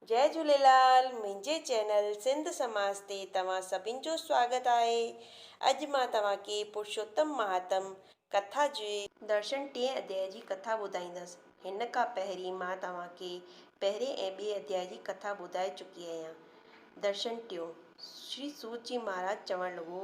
جئي جهوليلال منهنجي چينل سنڌ سماج تي توهان سڀن جو سواگت آهي اڄ مان توهان کي پرشوتم مهاتم ڪٿا جي درشن ٽئين اڌيائي جي ڪٿا ٻڌائيندس هن کان پهرين مان توهان کي پهرين ۽ ٻئي اڌيائي جي ڪٿا ٻڌائي چڪي اهيان درشن ٽيون شري سوت جي مهاراج چوڻ لڳو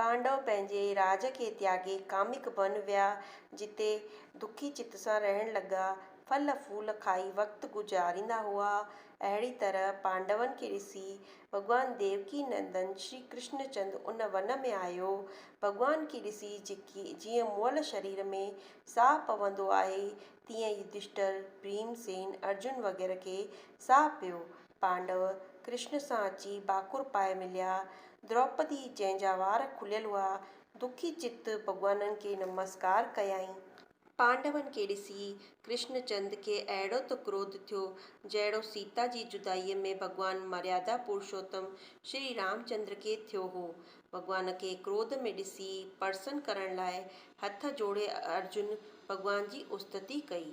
پانڊو پنهنجي راڄ کي تياڳي ڪامڪ بن ويا، جتي دکي چت سان رهڻ لڳا، ڦل ڦول کائي وقت گذاريندا هئا. اهڙي طرح پانڊون کي ڏسي ڀڳوان ديوڪي نندن شري ڪرشن چند ان ون ۾ آيو. ڀڳوان کي ڏسي جيڪي جيئن مئل شرير ۾ ساهه پوندو آهي، تيئن يڌشٽر، ڀيم سين، ارجن وغيره کي ساهه پيو. پانڊو ڪرشن سان اچي ڀاڪر پائي مليا. دروپدي، جنهن جا وار کليل هئا، دکي چت ڀڳوانن کي نمسڪار ڪيائين. پانڊون کي ڏسي ڪرشن چند کي اهڙو ته ڪروڌ ٿيو، جهڙو سيتا جي جدائيء ۾ ڀڳوان مريادا پرشوتم شري رام چندر کي ٿيو هو. ڀڳوان کي ڪروڌ ۾ ڏسي پرسن ڪرڻ لاء هٿ جوڙي ارجن ڀڳوان جي استتي ڪئي.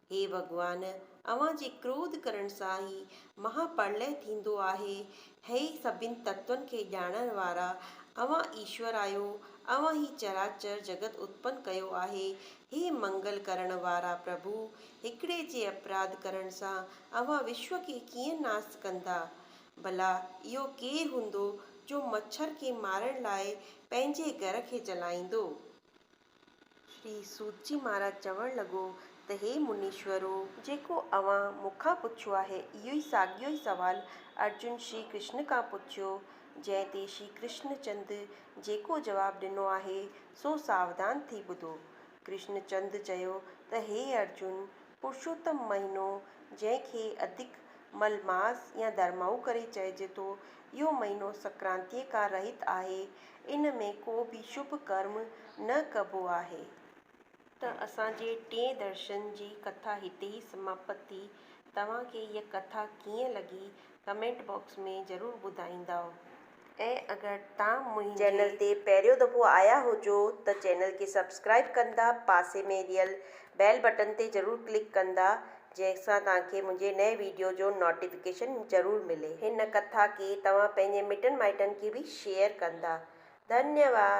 هي ڀڳوان! اوهان جي ڪروڌ ڪرڻ سان هي مها پرلئه ٿيندو آهي. هي سڀني تتون کي ڄاڻڻ وارا، اوهان ايشور آهيو. اوهان هي چراچر جڳت اتپن ڪيو آهي. هي منگل ڪرڻ وارا پرڀو! هڪڙي جي اپراڌ ڪرڻ سان اوهان وشو کي ڪيئن ناس ڪندا؟ ڀلا اهو ڪير هوندو جو مڇر کي مارڻ لاء پنهنجي گهر کي جلائيندو؟ شري سوتجي مھاراج چوڻ لڳو ته ھي منيشورو! جيڪو اوھان مون کان پڇيو آھي، اھو ئي ساڳيو ئي سوال ارجن شري ڪرشن کان پڇيو، جنھن تي شري ڪرشن چند جيڪو جواب ڏنو آھي، سو ساوڌان ٿي ٻڌو. ڪرشن چند چيو ته ھي ارجن! پرشوتم مھينو، جنھن کي ادھڪ مل ماس يا ڌرمائو ڪري چئجي ٿو، اھو مھينو سنڪرانتيء کان رھت آھي. ان ۾ ڪو به شڀ ڪرم نه ڪبو آهي. ته اسان جي ٽئين درشن جي ڪٿا هتي ئي سماپت ٿي. توهان کي هيء ڪٿا ڪيئن لڳي ڪمينٽ باڪس ۾ ضرور ٻڌائيندائو ۽ اگر تان منهنجي. چينل تي پهريون دفعو آيا هجو ته چينل کي سبسڪرائيب ڪندا پاسي ۾ ڏيل بيل بٽن تي ضرور ڪلڪ ڪندا جنهن سان توهان کي منهنجي نئين ويڊيو جو نوٽيفڪيشن ضرور ملي. هن ڪٿا کي توهان پنهنجي مٽن مائٽن کي به شيئر ڪندا. ڌنيواد.